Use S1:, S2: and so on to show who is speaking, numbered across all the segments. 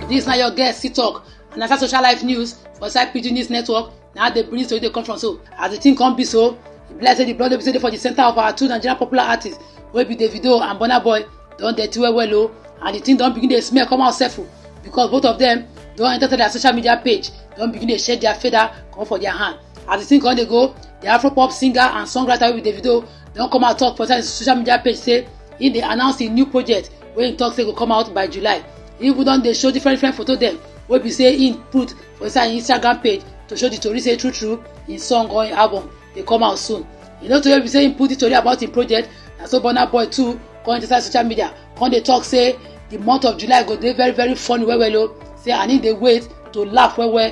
S1: This na your guest sit talk and na social life news for inside pidgin news network na how the tori dey come from so as the thing come be so e be like say the blood wey be say dey for the center of our two nigerian popular artists wey be davido and burna boy don dirty well well o and the thing don begin dey smell come out sef o because both of them don enter their social media page don begin dey shake their feather comot for their hand as the thing come dey go the afropop singer and songwriter wey be davido don come out talk for inside social media page say he dey announce im new project wey he talk say go come out by july he even don dey show different different photo dem wey be say he put for inside im instagram page to show the tori say true true im song or im album dey come out soon e no too wey be say he put the tori about im project na so burna boy too come enter inside social media come dey talk say the month of july go dey very very funny well well o say and he dey wait to laugh well well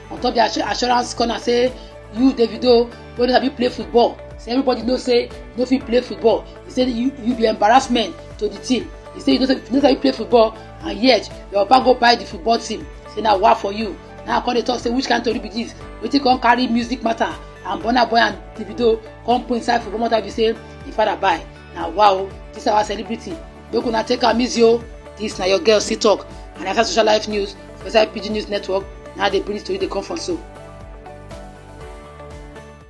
S1: on top their assurance corner say you davido wey no sabi play football say everybody know say no fit play football he say you you be embarrassment to the team he say you no sabi, you no sabi play football and yet your papa go buy the football team say na wa for you now i come dey talk say which kind tori be this wetin come carry music matter and burna boy and davido come put inside football matter be say the father buy na wa o this our celebrity make una take am easy o dis na your girl still talk and after social life news for inside pidgin news network na dey bring tori dey come from so.